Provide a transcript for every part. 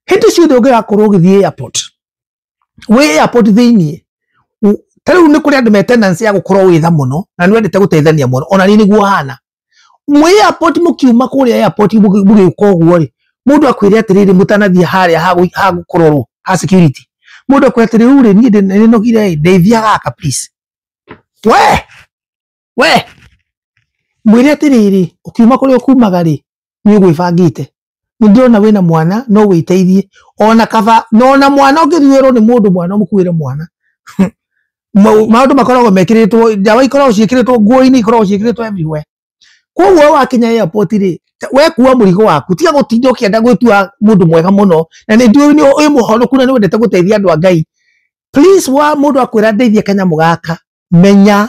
hĩndĩ ciothe ũngĩgakorwo ũgĩthiĩ airport wĩ airport thĩinĩ ta rĩu nĩ kũrĩ andũ me tendency ya gũkorwo wĩtha mũno na nĩ wendete gũteithania mũno ona niĩ nĩguo hana mwĩ airport mũkiuma kũrĩa airport mũgĩũka ũguo rĩ mũndũ akwĩre atĩrĩrĩ mũtanathiĩ harĩa ha gũkororwo ha security mũndũ akwĩra atĩrĩrĩ rĩu rĩ niĩ nĩnogire ndeithia gaka please we we mwĩre atĩrĩrĩ ũkiuma kũrĩa ũkumaga rĩ nĩ ũgwĩbangĩte nĩ ndĩrona wĩna mwana no wĩteithie ona kaba na ona mwana ũngĩthuĩrwo nĩ mũndũ mwana ũmũkuĩre mwana Mau- maũndũ makoragwo mekĩrĩtwo ndawa ikoragwo ciĩkĩrĩtwo nguo-inĩ ikoragwo ciĩkĩrĩtwo everywhere koguo wakinya airport rĩ ta- we kuua mũrigo waku tiga gũtinda ũkĩenda gwĩtua mũndũ mwega mũno na nĩ ndiũĩ nĩ ũyũ mũhonoku na nĩ wendete gũteithia andũ a ngai please wa mũndũ akwĩra ndeithie kanyamũ gaka menya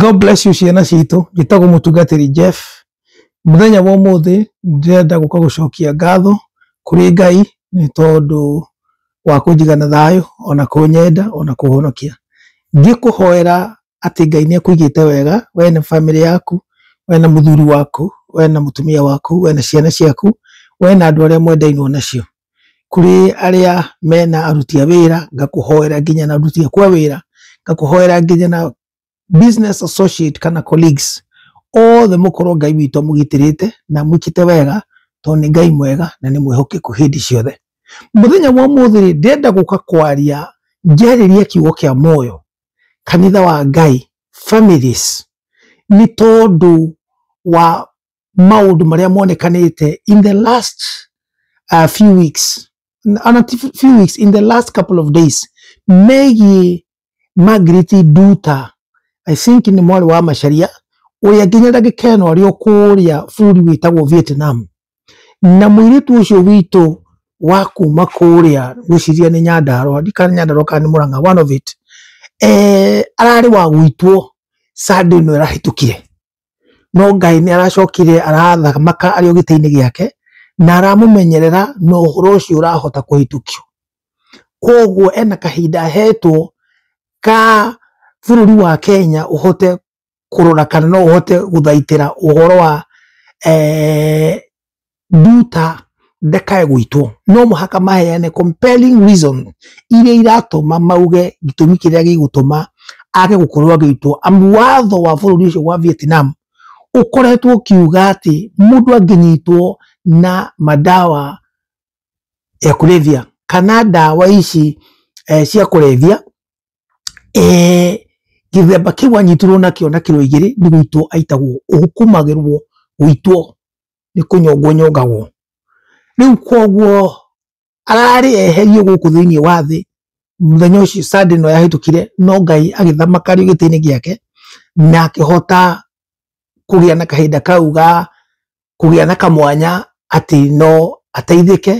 God bless you ciana citũ njĩtagwo mũtungatĩri Jeff mũthenya wa ũmũthĩ ndĩrenda gũka gũcokia ngatho kũrĩ Ngai nĩ tondũ wa kũnjigana thayũ ona kũnyenda ona kũhonokia ngĩkũhoera atĩ Ngai nĩ akũigĩte wega, we na bamĩrĩ yaku, we na mũthuri waku, we na mũtumia waku, we na ciana ciaku, we na andũ arĩa mwendainwo nacio. Kũrĩ arĩa mena aruti a wĩra, ngakũhoera nginya na aruti aku a wĩra, ngakũhoera nginya na business associate kana colleagues, othe mũkorwo Ngai witũ amũgitĩrĩte na amwĩkĩte wega, tondũ nĩ Ngai mwega na nĩ mwĩhokeku hĩndĩ ciothe. Mũthenya wa ũmũthĩ-rĩ, ndĩrenda gũka kwaria ngĩarĩria kiugo kĩa muoyo, kanitha wa ngai families nĩ tondũ wa maũndũ marĩa monekanĩte in the last uh, few weeks ana ti few weeks in the last couple of days megiĩ Margaret Nduta I think nĩ mwarĩ wa Macharia ũrĩa nginya ndagĩka ĩno arĩ o kũrĩa bũrũri wĩtagwo Vietnam Na mũirĩtu ũcio witũ wa kuma kũrĩa ngwĩciria nĩ Nyandarũa, ndiũĩ kana nĩ Nyandarũa kana nĩ Mũrang'a, one of it, eeh ararĩ wa gũitwo Sunday ĩno ĩrahĩtũkire. No Ngai nĩ aracokire arathamaka arĩ o gĩtĩ-inĩ gĩake, na aramũmenyerera na ũhoro ũcio ũrahota kũhĩtũkio. Koguo ena kahinda ahetwo ka bũrũri wa Kenya ũhote kũrora kana no ũhote gũthaitĩra ũhoro wa eh, nduta ndakae gwitwo no mũhaka maheane compelling reason iria iratũma mauge gĩtũmi kĩrĩa gĩgũtũma age gũkorwo agĩitwo amu watho wa bũrũri ũcio wa Vietnam ũkoretwo ũkiuga atĩ mũndũ angĩnyitwo na madawa ya kulevya kana ndawa ici eh, cia kũrebia eh, gĩthemba kĩu anyitirwo nakĩo na kĩro igĩrĩ nĩ gũitwo aitagwo ũkumagĩrwo gũitwo nĩ kũnyongwo nyongagwo rĩu koguo ararĩ eherio gũkũ thĩinĩ wa thĩ mũthenya ũcio sande ĩno yahĩtũkire no ngai agĩthamakario gĩtĩ-inĩ gĩake na akĩhota kũgĩa na kahinda kau ga kũgĩa na kamwanya atĩ no ateithĩke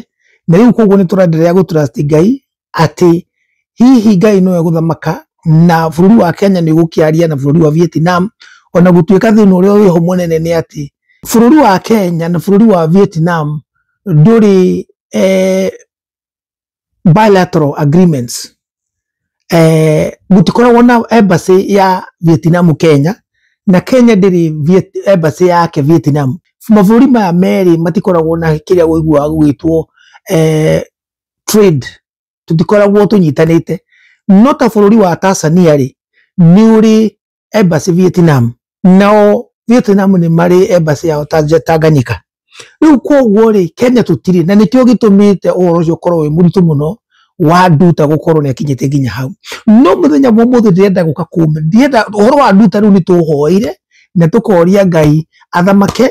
na rĩu koguo nĩ tũrenderea gũturasti ngai atĩ hihi ngai nowe gũthamaka na bũrũri wa kenya nĩ ũgũkĩaria na bũrũri wa vietnam ona gũtuĩka thĩna ũrĩa wĩho mũnene nĩ atĩ bũrũri wa kenya na bũrũri wa vietnam ndũrĩ eh, bilateral agreements eh, gutikoragwo na embassy ya Vietnam Kenya na Kenya ndĩrĩ Viet- embassy yake Vietnam mabũrũri maya merĩ matikoragwo na kĩrĩa ũiguaga gũgĩtwo eh, trade tũtikoragwo tũnyitanĩte no ta bũrũri wa Tanzania rĩ nĩ ũrĩ embassy Vietnam nao Vietnam nĩ marĩ embassy yao Tanja- Tanganyika rĩu kwoguo rĩ Kenya tũtirĩ na nĩkĩo gĩtũmĩte ũhoro ũcio ũkorwo wĩ mũritũ mũno wa nduta gũkorwo nĩ akinyĩte nginya hau no mũthenya wa ũmũthĩ ndĩrenda gũka kume ndĩrenda ũhoro wa nduta rĩu nĩ tũhoire na tũkoria Ngai athamake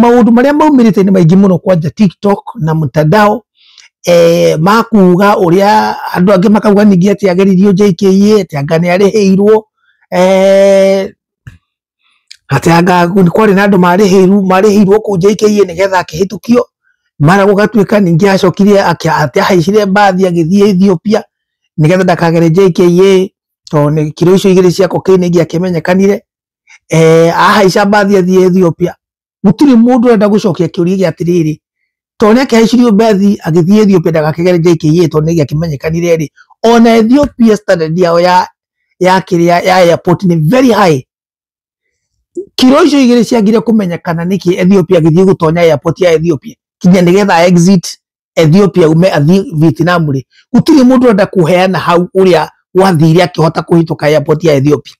maũndũ marĩa maumĩrĩte nĩ maingĩ mũno kwanja tiktok na mtandao eh, makuga ũrĩa andũ angĩ makauga ningĩ atĩ ageririo JKA atĩ anga nĩ arĩhĩirwo eh, atĩ anga nĩ kwarĩ na andũ marĩhĩirwo marĩhĩirwo kũu JKA nĩgetha akĩhĩtũkio mara gũgatuĩka ningĩ acokire akĩa- atĩ ahaicire mbathi agĩthiĩ Ethiopia nĩgetha ndakagere JKA tondũ nĩ kiro icio igĩrĩ cia kokaini ingĩ akĩmenyekanire eh, ahaica mbathi athiĩ Ethiopia gũtirĩ mũndũ ũrenda gũcokia kĩũria gĩa atĩrĩrĩ tondũ nĩ akĩhaicirio mbethi agĩthiĩ Ethiopia ndagakĩgere JKIA tondũ nĩ gĩakĩmenyekanire rĩ ona Ethiopia standard yao ya ya kĩrĩa ya airport nĩ very high kiro icio igĩrĩ ciagire kũmenyekana nĩkĩ Ethiopia agĩthiĩ gũtonya airport ya Ethiopia kinya nĩgetha exit Ethiopia ume athiĩ Vietnam rĩ gũtirĩ mũndũ ũrenda kũheana hau ũrĩa wathire akĩhota kũhĩtũka airport ya Ethiopia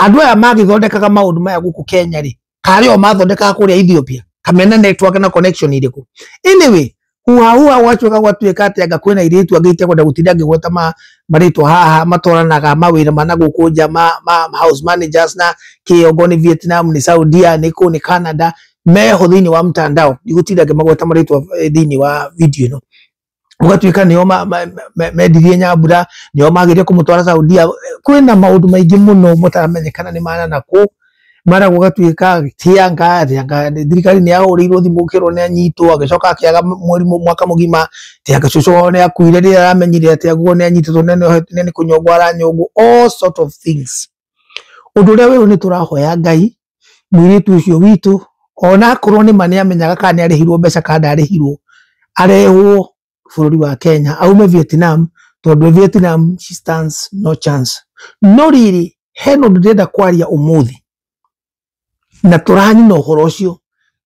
andũ aya magĩthondekaga maũndũ maya gũkũ Kenya rĩ karĩ o mathondekaga kũrĩa Ethiopia kamena network na connection irĩkũ anyway huha huha gwacoka gwatuĩka atĩ anga kwĩna airĩtu angĩ itekwenda gũtinda ngĩgweta ma, marĩtwa haha matwaranaga mawĩra ma na gũkũ nja ma, ma, ma house managers na kĩongo nĩ Vietnam nĩ Saudia nĩ kũ nĩ Canada meho thiini wa mtandao ndigutira ngimagweta maritwa thiini wa video ino gugatuika nio ma- ma- ma- mendirie nyambura nio magirie kumutwara saudia kwina maundu maingi muno mutaramenyekana ni mana na ku mara gugatuika tia ngari anga thirikari ni yahurirwo thimu kirwo ni anyitwo agicoka akiaga mweri mu- mwaka mugima tia gacucu wao ni akuire rira aramenyire ati aguo ni anyititwo ne ni kunyongwo aranyongwo all sort of things undu uria wiru ni turahoya ngai mũirĩtu ũcio witũ ona akorwo nĩ ma nĩ amenyaga kana nĩ arĩhirwo mbeca kana ndarĩhirwo arehwo bũrũri wa Kenya aume Vietnam tondũ Vietnam she stands no chance no rĩrĩ he na ũndũ ndĩrenda kwaria ũmũthĩ na tũrani na ũhoro ũcio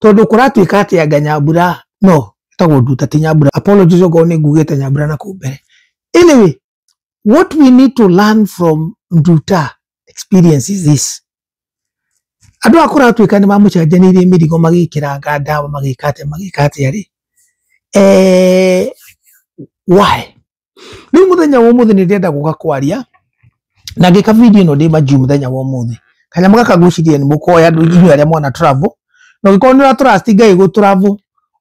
tondũ kũratuĩka atĩ anga nyambura no tagwo nduta ti nyambura apologies okorwo nĩ ngugĩte nyambura na kũmbere anyway what we need to learn from Nduta experience is this. Andũ akũra atuĩka nĩ mamũcenjanĩirie mĩrigo magĩkĩranga ndawa magĩka atĩa magĩka atĩa rĩ. Eh, why? Rĩu mũthenya wa ũmũthĩ nĩ ndĩrenda gũka kwaria na ngĩka video ĩno ndĩ manju mũthenya wa ũmũthĩ. Kanyamũ gaka ngwĩciria nĩ mũkoya andũ inyuĩ arĩa mwana travel. Na ũngĩkorwo nĩ ũra trust Ngai gũ travel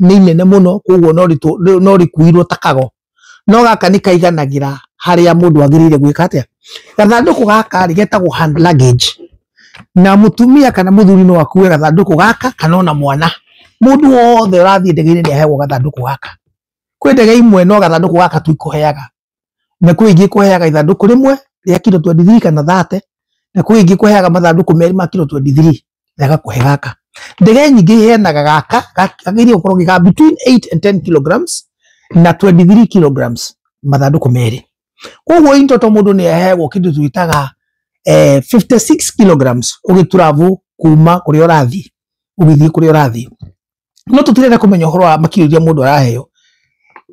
nĩ inene mũno koguo no ritũ- no- no rĩkuirwo ta kago no gaka nĩ kaiganagĩra harĩa mũndũ agĩrĩire gwĩka atĩa gathandũkũ gaka rĩ getagwo hand luggage na mũtumia kana mũthuri no akue gathandũkũ gaka kana ona mwana mũndũ wothe ũrathiĩ ndege-inĩ nĩ aheagwo gathandũkũ gaka kwĩ ndege imwe no gathandũkũ gaka tu ikũheaga na kwĩ ingĩ kũheaga ithandũkũ rĩmwe rĩa kiro 23 kana 30 na kwĩ ingĩ kũheaga mathandũkũ merĩ ma kiro 23 na ĩgakũhe gaka ndege nyingĩ iheanaga gaka gagĩrĩire gũkorwo gĩ ga between 8 and 10 kilograms na 23 kilograms mathandũkũ merĩ koguo in total mũndũ nĩ aheagwo kĩndũ twĩtaga eh, 56 kilograms ũgĩturavu kuma kũrĩa ũrathiĩ ũgĩthiĩ kũrĩa ũrathiĩ no tũtirenda kũmenya ũhoro wa makiri iria mũndũ araheo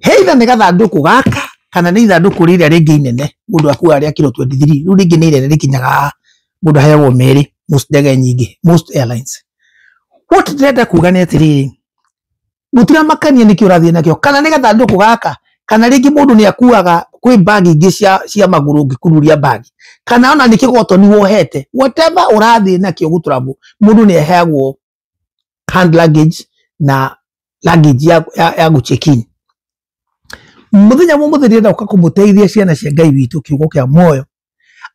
he itha nĩ gathandũkũ gaka kana nĩ ithandũkũ rĩrĩa rĩngĩ inene mũndũ akuaga rĩa kiro 23 rĩu rĩngĩ nĩ inene rĩkinyaga mũndũ aheagwo merĩ most ndege nyingĩ most airlines what ndĩrenda kuga nĩ atĩrĩrĩ mũtiramakania nĩkĩ ũrathiĩ nakĩo kana nĩ gathandũkũ gaka kana rĩngĩ mũndũ nĩ akuaga kwĩ mbagi ingĩ cia, cia magũrũ ũngĩkururia mbagi kana ona nĩ kĩgotoni wohete whatever ũrathiĩ nakĩo gũtũramwo mũndũ nĩ aheagwo hand luggage na luggage ya, ya, ya guchekin muthenya mwe muthenya nda uka kumuteithia ciana cia ngai witå kä ugo kä a moyo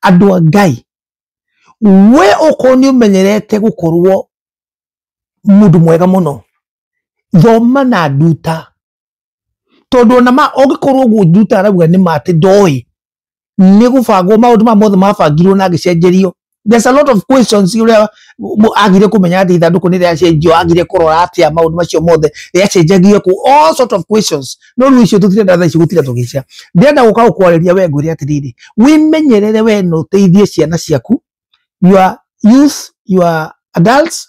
andå a ngai we okorwo nä å menyerete gå korwo må ndå mwega må no thoma na nduta tondå ona ma ũngĩkorwo guo njuta arauga nĩ ma atĩ ndoĩ nĩ gũbangwo maũndũ ma mothe mabangirwo na agĩcenjerio there's a lot of questions ũrĩa mũ- agire kũmenya atĩ ithandũkũ nĩ rĩacenjio agire kũrora atĩa maũndũ macio mothe rĩacenjagio kũ all sort of questions no rĩu icio tũtirenda thaa ici gũtira tũgĩcia ndĩrenda gũka gũkwarĩria we ngwĩre atĩrĩrĩ wĩmenyerere we na ũteithie ciana ciaku your youth your adults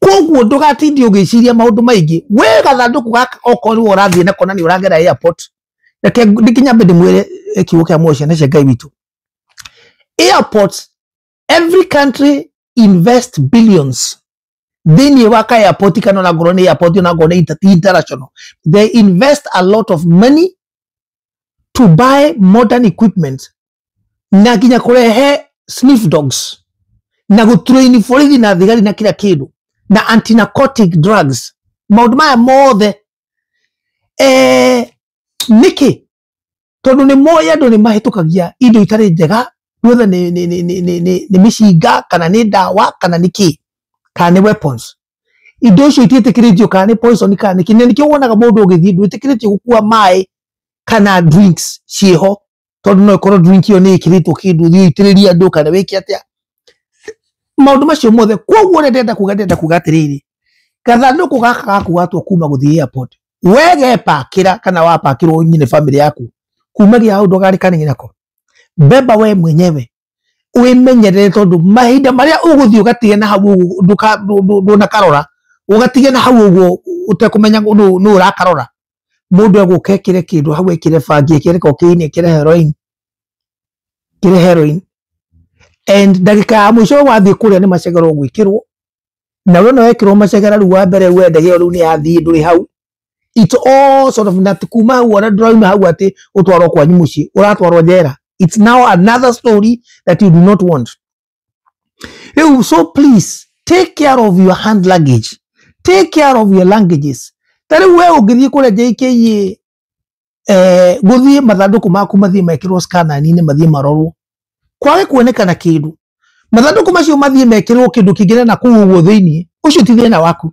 koguo ndũgatinde ũgĩciria maũndũ maingĩ wĩ gathandũkũ gaka okorwo nĩwe ũrathiĩ nako na nĩ ũragera airport reke nginya mbe ndĩmwĩre eh, kiugo kĩa muoyo ciana cia ngai witũ airports every country invest billions thĩinĩ wa ka airport kana ona ngorwo nĩ airport ona ngorwo nĩ inter- international they invest a lot of money to buy modern equipment na nginya kurehe sniff dogs na guturaini borithi na thigari na kira kindu na antinarcotic drugs maundu maya mothe eh, niki tondu ni moĩ andũ nĩ mahĩtũkagia indo itarĩ njega whether nĩ nĩ- nĩ- nĩ- nĩ- nĩ- nĩ mĩcinga kana nĩ ndawa kana nĩ kĩ kana nĩ weapons indo icio itiĩtĩkĩrĩtio kana nĩ poison kana nĩ kĩnene nĩkĩo wonaga mũndũ ũgĩthiĩ ndwĩtĩkĩrĩtio gũkua maĩ kana drinks ciĩho tondũ no ĩkorwo drink ĩyo nĩ ĩkĩrĩtwo kĩndũ thiĩ ũitĩrĩrie andũ kana wĩke atĩa maũndũ macio mothe koguo ũrĩa ndĩrenda kuga ndĩrenda kuga atĩrĩrĩ gathandũkũ gaka gakugatwo kuma gũthiĩ airport we gepakĩra kana wapakĩrwo nyine famĩlĩ yaku kuma gĩa hau ndũgarĩkane nako beba we mwenyewe wĩmenyerere tondũ mahinda marĩa ũgũthiĩ ũgatige na hau ũguo ndũka- ndũ- ndũ- ndũnakarora ũgatige na hau ũguo ũtekũmenya nũ nũ ũrakarora mũndũ egũka ekĩre kĩndũ hau ekĩre bangi ekĩre kokaini ekĩre heroin ekĩre heroin and ndagĩka ya mũico wathiĩ kũrĩa nĩ macegera ũgwĩkĩrwo na we no wekĩrwo macegera rĩu wa mbere we ndege ĩyo rĩu nĩ yathiĩ ndũrĩ hau it's all sort of na kuma hau ona ndurauma hau ati utwarwo kwanyu mucii uratwarwo njera it's now another story that you do not want riu so please take care of your hand luggage take care of your languages ta riu we ungithii kuria jkia eh, guthii mathanduku maku mathii mekirwo scanani-ini mathii marorwo kwage kuonekana kindu mathanduku macio mathii mekirwo kindu kingine na kuu uguo thiini ucio ti thina waku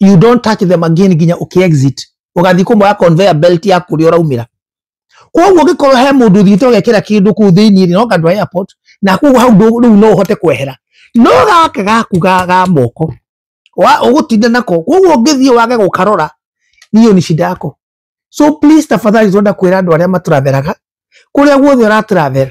you don't touch them again nginya ũkĩ exit ũgathiĩ kũmoya conveyor belt ya kũrĩa ũraumĩra koguo ũngĩkorwo he mũndũ ũthiĩte ũgekĩra kĩndũ kũu thĩinĩ rĩ no kandũ airport na koguo hau ndũ- rĩu no ũhote kwehera no gaka gaku ga ga moko wa- ũgũtinda nako koguo ũngĩthiĩ wage gũkarora niyo ni shida yako so please tafadhali tuenda kwĩra andũ arĩa matũratheraga kũrĩa guothe ũratũrathera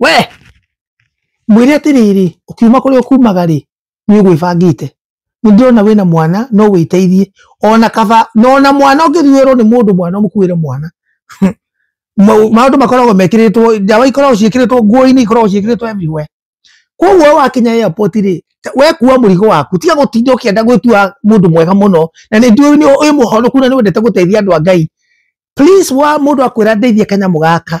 we mwĩre atĩrĩrĩ ũkiuma kũrĩa ũkumaga rĩ nĩ ũgwĩbangĩte nĩ ndĩrona wĩna mwana no wĩteithie ona kaba na ona mwana ũngĩthuĩrwo nĩ mũndũ mwana ũmũkuĩre mwana Mau- maũndũ makoragwo mekĩrĩtwo ndawa ikoragwo ciĩkĩrĩtwo nguo-inĩ ikoragwo ciĩkĩrĩtwo everywhere koguo we wakinya airport rĩ ta- we kuua mũrigo waku tiga gũtinda ũkĩenda gwĩtua mũndũ mwega mũno na nĩ ndiũĩ nĩ- wĩ mũhonoku na nĩ wendete gũteithia andũ a ngai please wa mũndũ akwĩra ndeithie kanyamũ gaka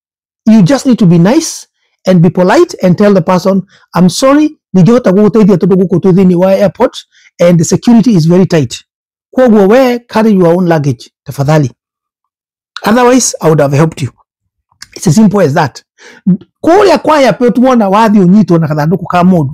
you just need to be nice and be polite and tell the person i'm sorry ndingĩhota gũgũteithia tondũ gũkũ twĩ thĩinĩ wa airport and the security is very tight kwoguo we carry your own luggage tafadhali otherwise i would have helped you it's as simple as that kũrĩa kwa airport wona wathiĩ ũnyitwo na gathandũkũ ka mũndũ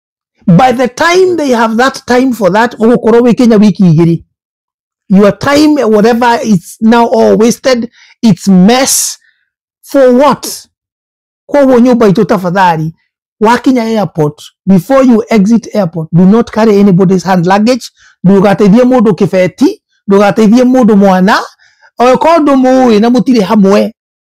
by the time they have that time for that ũgũkorwo wĩ kenya wiki igĩrĩ your time whatever it's now all wasted it's mess for what koguo nyũmba itũ tafadhali wakinya airport before you exit airport do not carry anybody's hand luggage ndũgateithie mũndũ kĩbeti ndũgateithie mũndũ mwana okorwo ndũmũĩ na mũtirĩ hamwe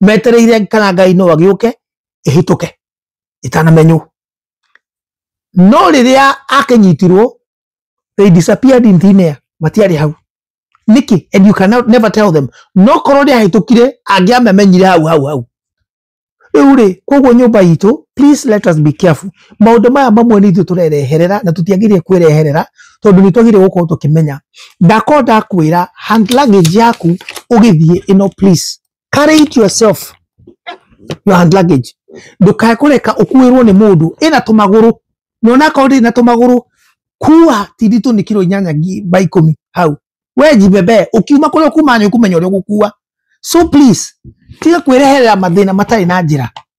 metereire kana ngai no agĩũke ĩhĩtũke ĩtanamenywo no rĩrĩa akĩnyitirwo they disappeared in thin air matiarĩ hau nĩkĩ and you cannot never tell them no korwo nĩ ahĩtũkire angĩamamenyire hau hau hau rĩu rĩ koguo nyũmba itũ please let us be careful maũndũ maya mamwe nĩ ithuĩ tũrereherera na tũtiagĩrĩire kwĩreherera tondũ nĩ twagĩrĩire gũkorwo tũkĩmenya ndakorwo ndakwĩra hand luggage yaku ũgĩthiĩ ĩno please carry it yourself your hand luggage ndũkae kũreka ũkuĩrwo nĩ mũndũ ĩna tũmagũrũ na onakorwo ndĩrĩ na tũmagũrũ kuwa ti nditũ nĩ kiro inyanya ngi- by ikũmi hau we jibebe ũkiuma kũrĩa ũkuma nĩ ũkũmenya ũrĩa ũgũkuwa so please tiga kwĩreherera mathĩna matarĩ na njĩra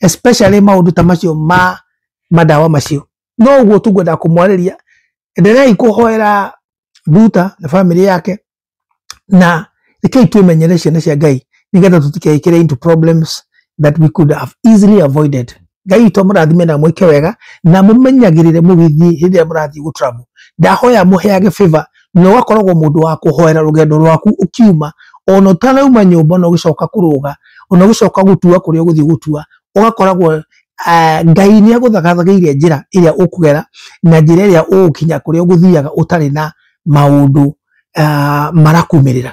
especially maundu ta macio ma madawa macio no guo tu ngwenda kumwariria endereai kuhoera Ruta na family yake na rekei twĩmenyere ciana cia Ngai nigetha tũtikeikire into problems that we could have easily avoided Ngai witũ amũrathime na mwĩke wega na mũmenyagĩrĩre mũgĩthiĩ hĩndĩ ĩrĩa mũrathiĩ gũ travel ndahoya mũheage favor na ũgakoragwo mũndũ wa kũhoera rũgendo rwaku ũkiuma ona ũtanauma nyũmba na ũgĩcoka kũrũga ona ũgĩcoka gũtua kũrĩa ũgũthiĩ gũtua ũgakoragwo eh, ngai nĩ agũthagathagĩire njĩra ĩrĩa ũkũgera na njĩra ĩrĩa ũgũkinya kũrĩa ũgũthiaga ũtarĩ na maũndũ ah, marakumĩrĩra